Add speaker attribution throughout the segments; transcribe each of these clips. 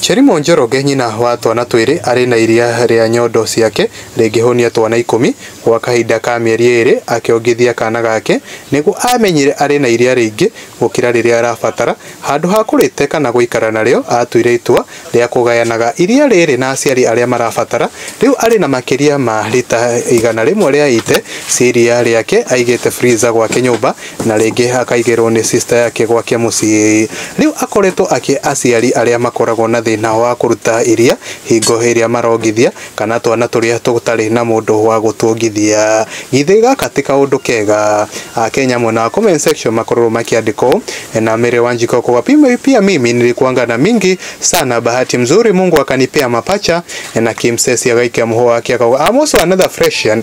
Speaker 1: Cherimũ Njoroge nyina wa twana twĩrĩ arĩ na iria rĩa nyondo ciake rĩngĩhũnia twana ikũmi, gwa kahinda ka mĩeri ĩrĩ akĩongithia kana gake nĩguo aamenyire arĩ na iria rĩingĩ gũkĩra rĩrĩa arabatara, handũ ha kũrĩte kana gũikara narĩo atuire itua rĩa kũgayanaga iria rĩrĩ na aciari arĩa marabatara, rĩu arĩ na makĩria ma rita igana rĩmwe rĩa ite cia iria rĩake aigĩte freezer gwake nyũmba na rĩngĩ akaigĩrwo nĩ sister yake gwake mũciĩ. Rĩu akoretwo akĩ aciari arĩa makoragwo na thĩna wa kũruta iria, hingo ĩrĩa marongithia, kana twana tũrĩa tũtarĩ na mũndũ wa gũtuongithia. Githĩ gaka ti kaũndũ kega? Akenya mwena wa comment section makororwo makĩandĩka ũũ, Na Mary Wanjiko kwa pia mimi nilikuanga na mingi sana bahati mzuri Mungu akanipea mapacha na Kim Sesi agaikia mũhũa wake akauga I'm also another freshian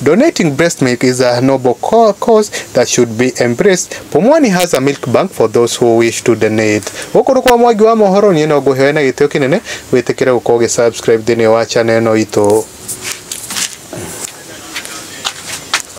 Speaker 1: Donating breast milk is a noble cause that should be embraced. Pumwani has a milk bank for those who wish to donate. Gũkũ nĩ kwa mwangi wa mohoro niĩ no ngũheo na gĩtĩo kĩnene wĩtĩkĩre gũkorwo ũgĩ subscribe thĩinĩ wa channel ĩno itũ.